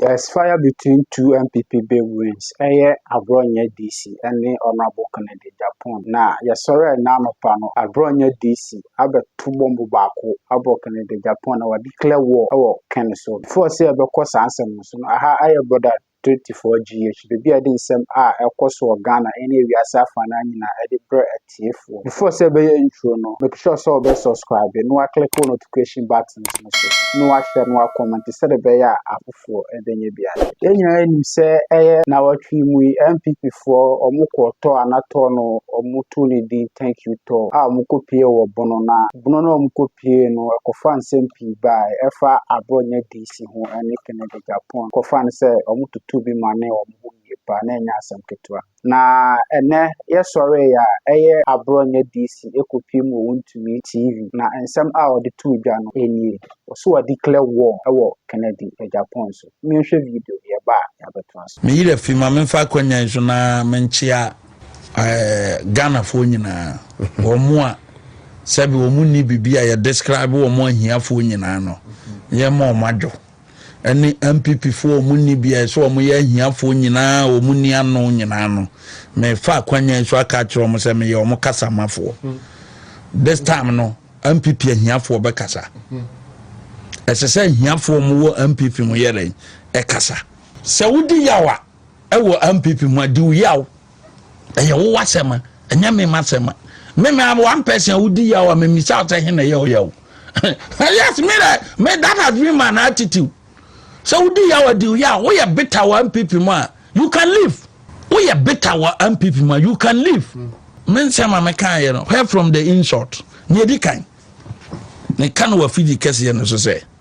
There is fire between two NPP big wins ɛyɛ Aborɔnyɛ DC ɛne Honourable Kennedy Agyapong na yɛsɔrɛɛ nnɛ anɔpa no Aborɔnyɛ DC abɛto bɔmbo baako abɔ Kennedy Agyapong na wa declare war ɛwɔ Ken so. Before sɛ yɛbɛkɔ saa nsɛm no so no aha ɛyɛ Border 24 GH baabi a yɛde nsɛm a ɛkɔ so wɔ Ghana ɛne wiase afa no ara nyinaa ɛde brɛ atiefoɔ. Before sɛ ɛbɛyɛ intro no, make sure sɛ ɔbɛ subscribe na waklick wo notification buttons no so na washare na wakɔmmɛnte sɛdeɛ ɛbɛyɛ a afoforɔ ɛbɛnya bi ahwɛ. Yɛn nyinaa nim sɛ ɛyɛ nawɔtwe yi mu yi NPP foɔ wɔn kɔɔ tɔɔ ana tɔɔ no wɔn too ne din thank you tɔɔ a wɔn kɔ pie wɔ bono na bono no a wɔn kɔ pie no ɛkɔfa nsɛm pii baae ɛfa aborɔ nyɛ DC ho ɛne Kennedy Japan kɔfa no sɛ wɔn toto bi ma ne wɔn ho yie paa na ɛnyɛ asɛm ketewa. Na ɛnɛ yɛ sɔre yɛ a ɛyɛ aborɔ nyɛ DC ɛkɔ pie mu ɔwɔ ntumi TV na nsɛm a ɔde too dwa no ɛnie ɔse wa declare war ɛwɔ Kennedy Japan so me nhwɛ video yɛ ba a yɛ abɛto aso. Me yerɛ fi ma menfa akwanya yi so na menkyea Ghana foɔ nyinaa wɔn mo a sɛbi wɔn nni bibi a yɛ describe wɔn ahiafoɔ nyinaa no yɛ ma wɔn adwo. ɛne NPP foɔ a wɔn nni bia ɛsɛ wɔn yɛ ahiafoɔ nyinaa a wɔn nni ano nyinaa no mefa akwanya yi so aka akyerɛ wɔn sɛ meyɛ wɔn kasamafoɔ this time no NPP ahiafoɔ bɛkasa ɛsɛ sɛ ahiafoɔ wɔn wɔ NPP mu yɛ dɛn ɛkasa sɛ wodi yawa ɛwɔ mpp mu a di wo yaw ɛyɛ wo wasɛm a ɛnyɛ me ma sɛm a me me am one person a wodi yaw a me mi sa sɛ hen na ɛyɛ wo yaw yes me dɛ me that has been my attitude sɛ wodi yaw a di wo yaw woyɛ bitter wɔ mpp mu a you can leave woyɛ bitter wɔ mpp mu a you can leave me nsɛm a meka yɛ no where from the insult ne edi kan ne ka no wɔ fidi kɛseɛ no so sɛ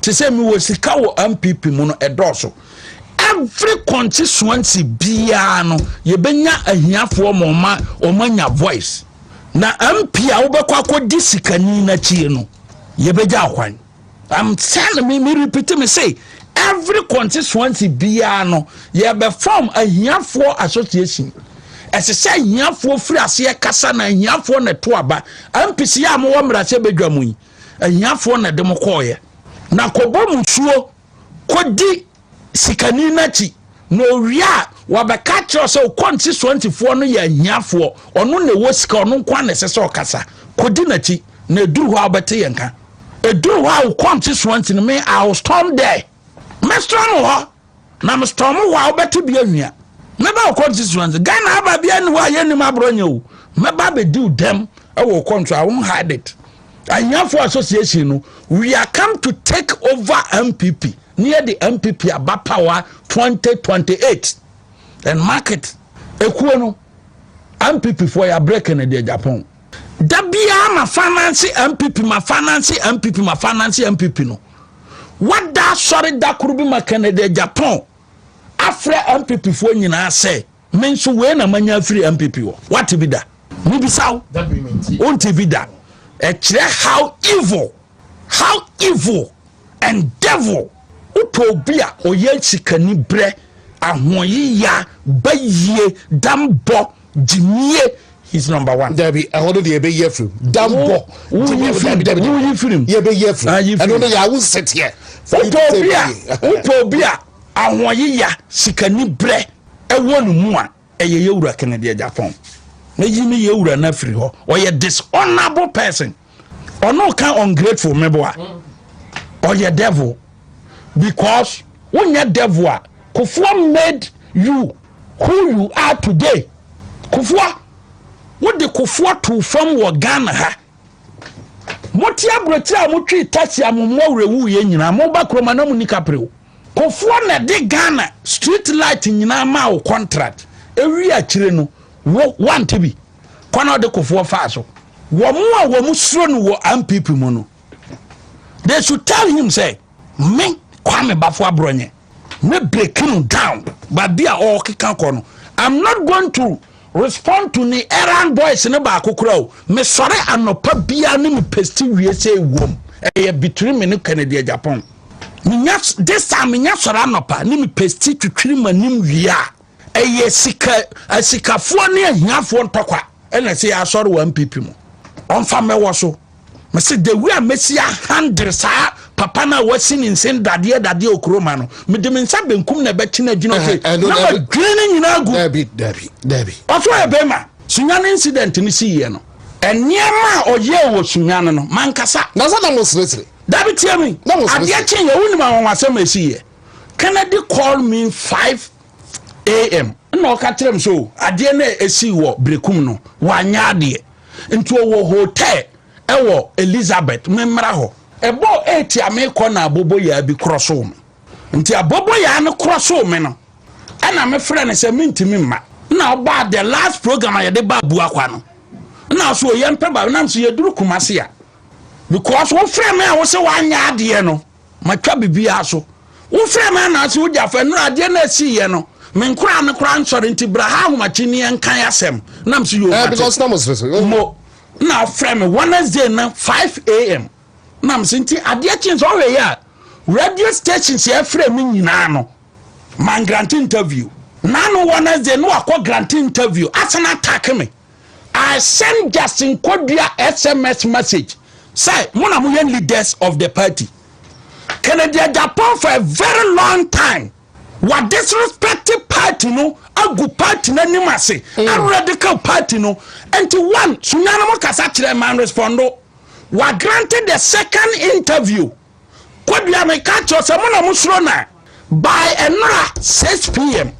te sɛ mewɔ sika wɔ mpp mu no ɛdɔɔso every constituency biara no yɛbɛnya ahiafoɔ ma ɔma ɔma nya voice na mp a wobɛkɔ akɔdi sikani no akyie no yɛbɛgya akwan I'm telling me, me repeat me say every constituency biara no yɛbɛfam ahiafoɔ association ɛsɛ sɛ ahiafoɔ firi aseɛ kasa na ahiafoɔ na ɛto aba mpc a mowɔ mmarahyɛ badwa mu yi ahiafoɔ na ɛde mo kɔɔyɛ na kɔbɔ mu suo kɔdi sikani no akyi na owie a wɔbɛka kyerɛ sɛ okɔnti soantifoɔ no yɛ ahiafoɔ ɔno na ɛwɔ sika ɔno nko na ɛsɛ sɛ ɔkasa kɔdi n'akyi na ɛduru hɔ a wobɛte yɛn ka ɛduru hɔ a wokɔnti soanti no me I will storm there Mɛstorm wo hɔ na mestorm wo a wobɛte bi anwia mɛba wo constituency ghana aba bia ne hɔ a yɛnnim aborɔ nyɛ o mɛba bɛdi wo dɛm ɛwɔ wo kɔnto a won hide it ahiafoɔ association no we are come to take over mpp ne yɛde mpp aba power 2028 and market ekuo no mpp foɔ yɛ break no deɛ japan da biara ma finance mpp ma finance mpp ma finance mpp no wada asɔre da koro bi ma kennedy japan afrɛ mpp foɔ nyinaa sɛ me nso wei na manya afiri mpp wɔ wate bi da mebisa wo wonte bi da ɛkyerɛ how evil how evil and devil wopɛ obi a ɔyɛ sikani berɛ ahoɔyeya bayie dambɔ gyimie he's number one. dabi ɛhɔ no deɛ yɛbɛyi afiri mu dambɔ gyimie dabi dabi dabi firi mu yɛbɛyi afiri mu ah, ɛno no yɛ awo nsɛteɛ. wopɛ obi a wopɛ obi a ahoɔyeya sikani brɛ ɛwɔ ne mu a ɛyɛ yɛwura kennedy agyapɔn mɛyi ne yɛwura no afiri hɔ ɔyɛ dishonorable person. ɔno ka ungrateful mɛboa ɔyɛ devil because wonyɛ devil a kofoɔ made you who you are today kofoɔ wode kofoɔ too fam wɔ ghana ha mote aburokyire a motwe taxi a mo mmoa wura wu yɛ nyinaa moba kuroma na mo ni kaprew kofoɔ na ɛde ghana street light nyinaa maa wo contract ewi akyire no wo wante bi kwan a ɔde kofoɔ faa so wɔn a wɔn suro no wɔ ampp mu no they should tell him sɛ me kwame bafo aborɔnyɛ me break him down baabi a ɔrekeka kɔ no i'm not going to respond to ne errand boys ne baako kora o mesɔre anɔpa biara ne me pesti wie sɛ ɛwom ɛyɛ between me ne kennedy japan menya this time menya sɔre anɔpa ne me pesti twitwiri m'anim wie a ɛyɛ sika asikafoɔ ne ahiafoɔ ntɔkwa ɛna ɛsɛ yɛ asɔre wɔ npp mu ɔmfa mɛwɔ so mese the way a mɛsi ahandere saa papa no a wasi ne nsen dadeɛ dadeɛ okuroma no mede me nsa benkum na ɛbɛkye no agyina se na madwene no nyinaa gu ɔso yɛ bɛma sunya no incident no siiɛ no nneɛma a ɔyɛɛ wɔ sunya no no mankasa na sɛ na mo seresere dabi tie mi adeɛ kye yɛ wonim awɔwasɛm ɛsiiɛ kennedy called me five am na ɔka kyerɛ m sɛ o adeɛ no a ɛsii wɔ berekum no wanyɛ adeɛ nti ɔwɔ hotel ɛwɔ elizabeth memmra hɔ ɛbɔɔ ɛti a mekɔ na aboboyaa bi korɔ so me nti aboboyaa no korɔ so me no ɛna mefrɛ no sɛ mentumi mma na ɔbaa the last program a yɛde baa buakwa no na so yɛmpɛ ba nam so yɛduru kumase a because wofrɛ me a wo sɛ woanyɛ adeɛ no matwa biribiara so wofrɛ me anaase wogya fɛ nnora adeɛ no asiiɛ no me nkoraa no koraa nsɔre nti bra ha ahomakyenniɛ nkan asɛm na m so yɛ eh, ɔmate mo na afrɛ me wednesday na 5am na m so nti adeɛ kyen sɛ ɔhwɛ yɛ a radio station sɛ ɛfrɛ me nyinaa no man grant interview na no wednesday na wakɔ grant interview asana atake me I send Justin Kodua SMS message sɛ mo na mo yɛ leaders of the party. Kennedy Agyapong for a very long time wa disrespect party no agu party no anim ase mm. aredika party no nti one sunyane mo kasa kyerɛ man respondo wa granted the second interview. Kodua me ka kyerɛ sɛ mo na mo soro na by ɛnora 6 pm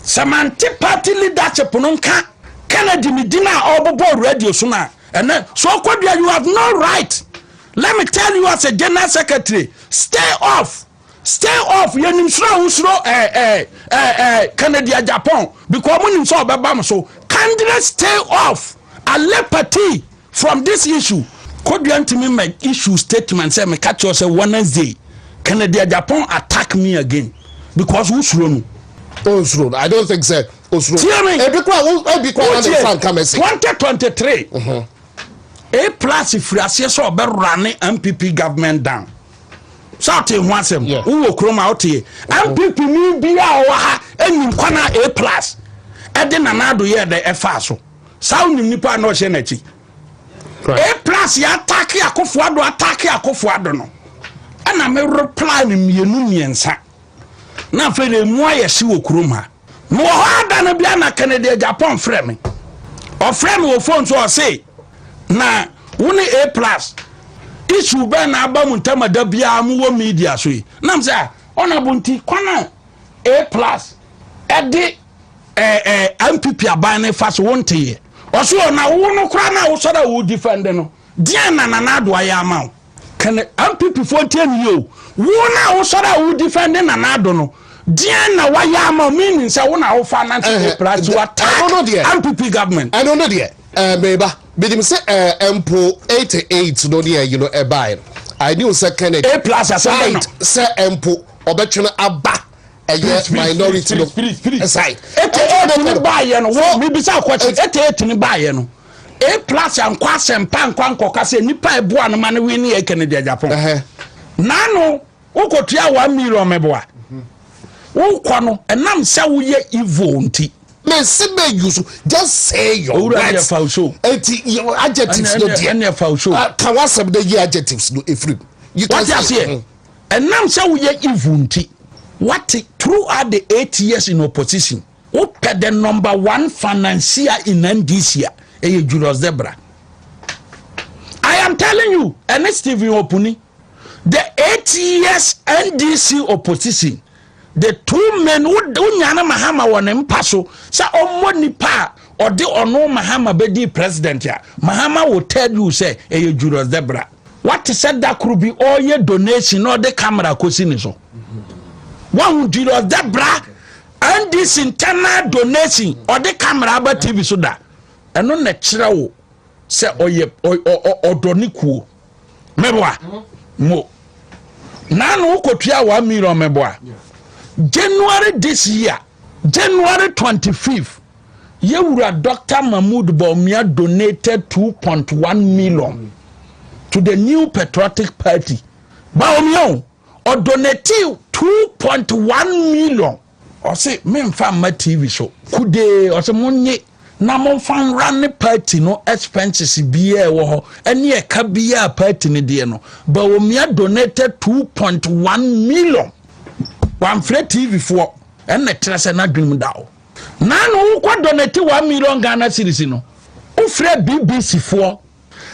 sɛ mante party leadership no nka Kennedy ne din a ɔbobɔ radio so na ɛnɛ so Kodua you have no right let me tell you as a general secretary stay off Stay off yɛ nim soro a wo soro ɛɛ ɛɛ ɛɛ ɛɛ Kennedy Agyapong because mo nim sɛ ɔbɛba mo so kindly stay off alle party from this issue Kodua ntumi mɛ issue statement sɛ meka kyerɛ sɛ Wednesday Kennedy Agyapong attack me again because wo soro no Oh, Osuro. I don't think so. Osuro. Tie me. Ebi kura wo ebi kura na nfa nka mesi. Twenty twenty three. Mhm. A plus firi aseɛ sɛ ɔbɛwura ne MPP government down. sɛ ɔte ho asɛm wowɔ kurom a wote mpp ni bia a ɔwɔ ha ɛnim kwan a a plus ɛde nana ado yɛ dɛ ɛfaa so saa wonim nipa na ɔhyɛ n'akyi a plus yɛ atake akofoɔ ado atake akofoɔ ado no ɛna me reply no mmienu mmiɛnsa na afei na emu ayɛ hye wɔ kurom ha mewɔ hɔ ada no bia na kennedy agyapɔn frɛ me ɔfrɛ me wɔ fon so ɔse na wo ne a plus issue bɛn na aba mu ntam ada biara mu wɔ media so yi nam sɛ a ɔna bo nti kwan a a plus ɛde ɛɛ eh, eh, npp aban no fa so wo nteyɛ ɔso ɔna wo no koraa na wosɔre a wo defend no deɛn na nana adoa yɛ ama wo Can MPP foɔ ntie ne yie o. Wo na wo sɔre a wo defend Nana Addo no. Deɛn na wayɛ ama meaning sɛ wo na wo fa Nancy Day plus to attack MPP government. Ɛno no deɛ ɛɛ meba menim sɛ ɛɛ mpo eighty eight no deɛ you know ɛbae no I knew sɛ Kennedy. A plus asɛm bɛ no. Sɛ mpo ɔbɛtwene aba. ɛyɛ minority no side. Ete ate ne baayɛ no wɔ mibisa akwakye ete ate ne baayɛ no a plus ankɔ asɛmpa ankɔ ankɔka sɛ nipa ɛboa no ma no win ne yɛ kɛnɛ deɛ japan naano wokɔtua one million mɛboa wokɔ no ɛnam sɛ woyɛ evil nti mesi bɛ use so just say your words owurɔ deɛ fa so eti adjectives no deɛ ɛnɛ fa so ka wasɛm de yi adjectives no efiri mu wate aseɛ Ɛnam sɛ woyɛ evil nti wate throughout the eight years in opposition wopɛ the number one financier in NDC a ɛyɛ Julius Debra. I am telling you ɛne Stephen Opuni the eight years NDC opposition the two men wonya no mahama wɔ ne mpa so sɛ ɔmmɔ nipa a ɔde ɔno mahama bɛdi president a mahama will tell you sɛ ɛyɛ julius debra wate sɛ da koro bi ɔreyɛ donation na ɔde camera kɔsi ne so wahu julius debra ndc internal donation ɔde camera aba tv so da ɛno na kyerɛ wo sɛ ɔyɛ ɔdɔ ne kuo meboa mo na no wokɔtua one million meboa january this year january 25 yɛwura dr mahmood baumia donated 2.1 million to the new patriotic party baumia o ɔdonate 2.1 million Ɔse memfa mma TV so. Kudee ɔse monye na momfa nwra ne party no expenses biaa ɛwɔ hɔ ɛne ɛka biaa party no deɛ no. Bawomia donated 2.1 million. Wamfrɛ TV foɔ ɛna ɛkyerɛ sɛ n'adwenem da hɔ. Nana wokɔ donate 1 million Ghana series no wofrɛ BBC foɔ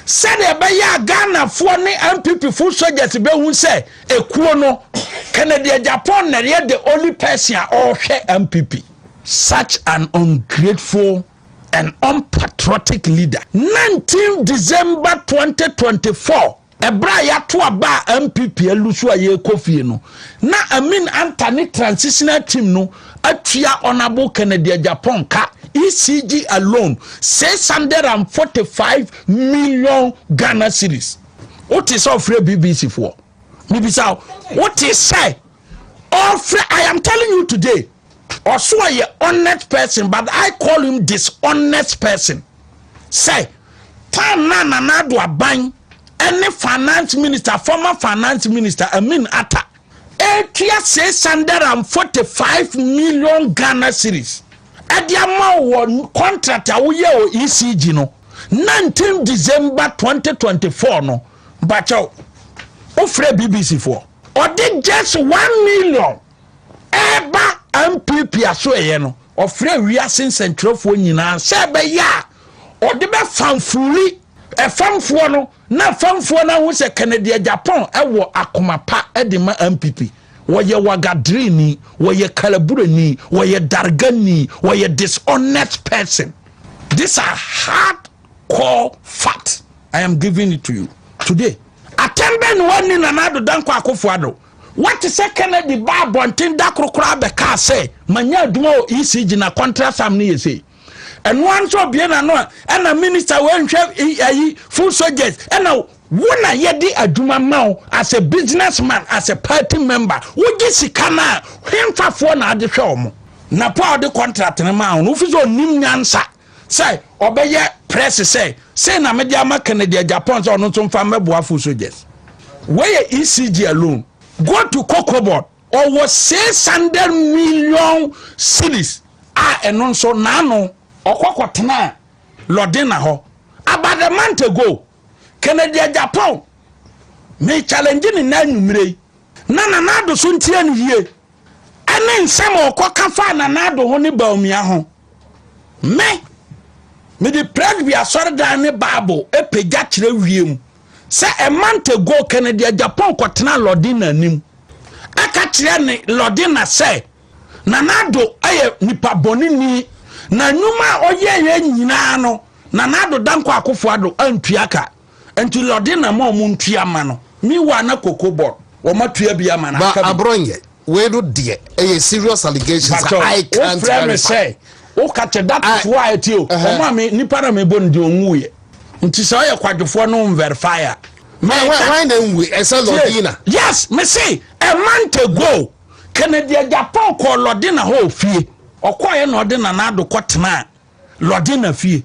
Sɛdeɛ ɛbɛyɛ a Ghanafoɔ ne NPP full soldiers bɛhu sɛ ekuo no, Kennedy Agyapong na ɛyɛ the only person a ɔrehwɛ NPP. Such an ungrateful and unpatriotic leader. 19 December 2024 ɛberɛ a yɛato aba a MPP alu so a yɛrekɔ fie no na Amin Anta ne transitional team no atua honourable Kennedy Agyapong ka ECG alone six hundred and forty five million Ghana cedis wote sɛ ɔfrɛ BBC foɔ mebisa wote sɛ ɔfrɛ I am telling you today ɔso ɔyɛ honest person but I call him dishonest person sɛ time na Nana Addo Aban ɛne finance minister former finance minister Amin Atta ɛretua six hundred and forty five million ghana series ɛde ama wɔ contract a woyɛ wɔ ecg no nineteen december twenty twenty four no bakyɛw wofrɛ bbc foɔ ɔde just one million ɛreba mpp aso ɛyɛ no ɔfrɛ wiase nsɛnkyerɛfoɔ nyinaa sɛ ɛbɛyɛ a ɔde bɛfamfori ɛfamfoɔ no Na famfoɔ no ahu sɛ Kennedy Agyapong wɔ akoma pa de ma NPP. Wɔyɛ wagadireni, wɔyɛ kalabureni, wɔyɛ dargani, wɔyɛ dishonest person. These are hard core facts I am giving it to you today. Atɛm bɛn na wɔanni Nana Addo Dankwa Akufo-Addo? Wɔte sɛ Kennedy baa abɔnten da koro koraa bɛkaa sɛ, manya adwuma wɔ ECG na contract sum no yɛ sei. ɛno ara nso ɔbie n'ano a ɛna minister wɔ nhwɛ ayi full soldiers ɛna wo na yɛde adwuma ma wo as a business man as a party member wogye sika no a hemfafoɔ na ade hwɛ ɔmo na po a ɔde contract no ma wo no wofi sɛ ɔnim nyansa sɛ ɔbɛyɛ press sɛ sei na mede ama kennedy japan sɛ ɔno nso mfa mmɛboa full soldiers wɔyɛ ecg alone go to cocoa board Ɔwɔ six hundred million cedis a ɛno nso n'ano. Ɔkɔ kɔtenaa Lɔdena hɔ. About a month ago, Kennedy Agyapong, me challenge ne nnɛ anwummere yi. Na Nana Addo so ntie no yie. Ɛne nsɛm a ɔkɔka faa Nana Addo ho ne Bawumia ho. Me, mede Presby asɔredan ne Bible pagya kyerɛ wiem. sɛ a month ago kennedy a japan kɔtenaa lɔdina anim ɛka kyerɛ ne lɔdina sɛ nanado yɛ nipa bɔneni na nnwuma a ɔyɛeɛ nyinaa no nanado dankɔ akofo ado antua ka nti lɔdina ma ɔmo ntua ma no miwa na koko bɔ wɔn atua bi ama no aka bi Wei no deɛ ɛyɛ serious allegations a I can't verify. Wofrɛ me sɛ woka kyɛ that is why ti o ɔmo a me nipa na mebɔ ne din ɔnwu yɛ nti sɛ ɔyɛ kwadwofoɔ no nverify a. Why na nwu ɛsɛ Lɔdina? Yes me se a month ago Kennedy Agyapong kɔɔ Lɔdina hɔ ofie ɔkɔɔyɛ na ɔde Nana Addo kɔ tenaa Lɔdina fie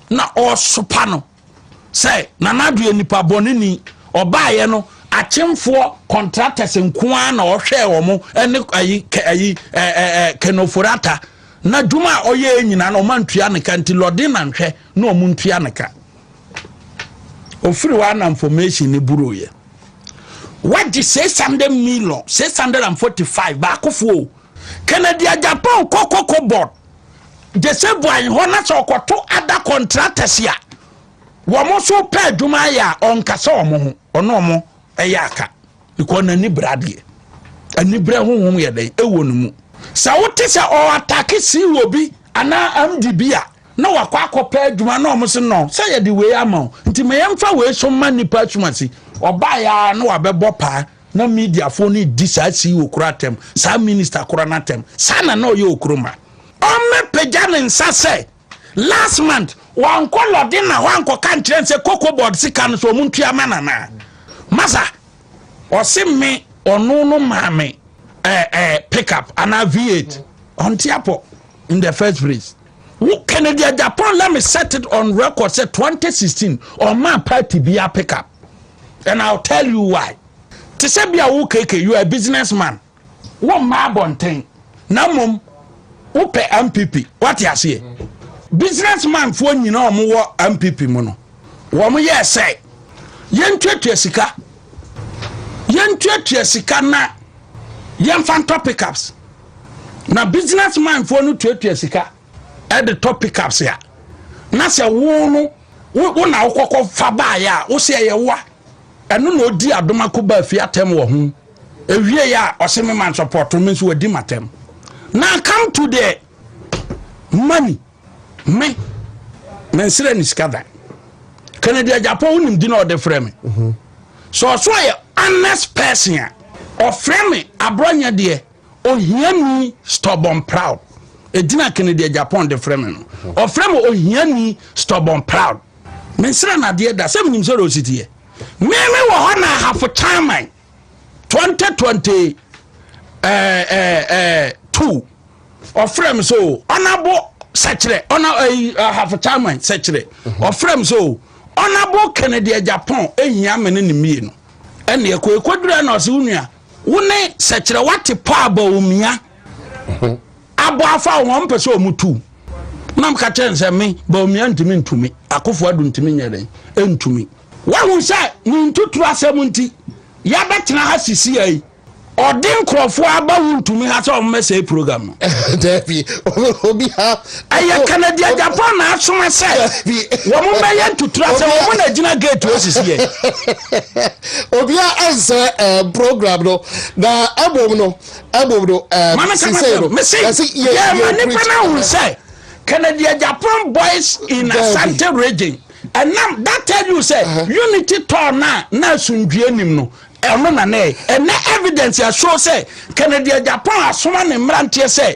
na ɔɔsopa no. sɛ nana ado yɛ nipa bɔne ni ɔbaayɛ no akyemfoɔ contractors nko ara na ɔhwɛɛ wɔn ɛne ayi kɛ ayi ɛɛ ɛɛ kenoforata na dwuma a ɔyɛ nyinaa na wɔn ntua ne ka nti lɔden na nhwɛ na wɔn ntua ne ka ofiri hɔ ana information ne buro yɛ wagye six hundred million six hundred and forty five baakofoɔ kennedy agyapɔn kɔkɔkɔ board gye sɛ boae hɔ na sɛ ɔkɔto ada contractors a wɔn so pɛ adwuma yɛ a ɔnkasa wɔn ho ɔno wɔn ɛyɛ aka because n'ani bere adeɛ ani bere honhom yɛ dɛn ɛwɔ ne mu sɛ wote sɛ ɔatake si wɔ bi anaa amdi bi a na wakɔ akɔpɛ adwuma na wɔn so nɔ sɛ yɛde wei ama wo nti ma yɛmfa wei so ma nnipa asumasi ɔbaeɛ a na wabɛbɔ paa Na mediafoɔ no redi saa CEO korɔ atɛm, saa minister korɔ no atɛm. Saa na na ɔyɛ Okroma. Ɔmmɛpagya ne nsa sɛ, last month wankɔ Lɔdena hɔ ankɔka nkyerɛ no sɛ cocoa board sika no so wɔn ntua ma no anaa? Masa, ɔse me ɔno no maa me eh, eh, pickup anaa V8. Ɔnte apɔ in the first place. wo kennedy agyapɔn let me set it on record sɛ 2016 ɔma party bi a pick up and i'll tell you why te sɛ bi a wo keke you are a business man wo mma abɔnten na mmom wopɛ mpp wate aseɛ business man foɔ nyina ɔmo wɔ mpp mu no wɔn yɛ sɛ yɛntuatua sika yɛntuatua sika na yɛnfa ntɔ pickups na business manfoɔ no tuatua sika ɛde tɔ pickups a na sɛ wo no wo na wokɔkɔ fa baayɛ a wo sɛ ɛyɛ woa ɛno na ɔdi adoma ko baa fie atɛm wɔ ho ɛwie yɛ a ɔse me man sɔpɔto me nso wadi matɛm na come to the money me mensrɛ ne sika da kennedy agyapɔ wonim di na ɔde frɛ me mhm. sɛ ɔso yɛ honest person a ɔfrɛ me aborɔnyɛ deɛ ohiani stubborn proud ɛgyina kennedy agyapɔn de frɛ me no ɔfrɛ me ohiani stubborn proud mensrɛ no adeɛ da sɛ menim sɛ rositeɛ meme wɔ hɔ na ahafo chairman 2022 eh, eh, eh, ɔfrɛ me sɛ o ɔnabo sɛkyerɛ ɔna ahafo chairman sɛkyerɛ ɔfrɛ me sɛ o ɔnabo kennedy agyapɔn ɛhia me ne ne mmienu ɛne ɛkɔ ɛkɔdura na ɔse wo nua Wo ne sɛkyerɛ wate pɔ aba omia. Abɔ afa wɔn mpɛ sɛ wɔn tu. Nam ka kyɛn sɛ me ba omia ntumi ntumi akofo adu ntumi nyɛ dɛn ntumi. Wahu sɛ ne ntuturu asɛm nti yɛbɛtena ha sisi yi. Ɔde nkurɔfoɔ aba wo ntumi ha sɛ wɔn mɛsɛe program no. Dabi obi ha Ɛyɛ Kennedy Agyapong n'asoma sɛ wɔmmɛyɛ ntutura sɛ wɔn na egyina gate hɔ sisi yɛn. Obia ɛnsɛ ɛɛ program no na ɛbom no ɛbom no ɛɛ sisei no. Mesi yɛ ma nipa na hun sɛ Kennedy Agyapong boys in Asante region ɛnam that tell you sɛ unity tɔɔ na na asundue nim no ɛno na na ɛyɛ ɛnɛ evidence ɛshow sɛ Kennedy Agyapong asoma ne mmeranteɛ sɛ.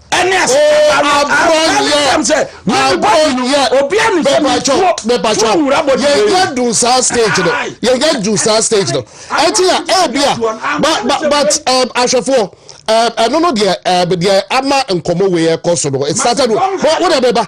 ɛne asetaba no abrɔnyɛ sɛ abrɔnyɛ bɛbàtɔ bɛbàtɔ yɛnyɛ du saa stage no yɛnyɛ du saa stage no ɛti yà ɛbi a but but but ahwɛfoɔ ɛno no deɛ ɛɛ deɛ ama nkɔmɔ wei ɛkɔ so no it started with wɔn wɔn na ɛbɛba.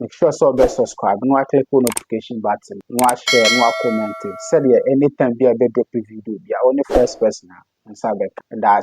Make sure sɛ ɔbɛ subscribe na click on notification button na share na comment sɛdeɛ anytime bi a bɛ drop video bi a ɔne first person a nsa bɛka. That's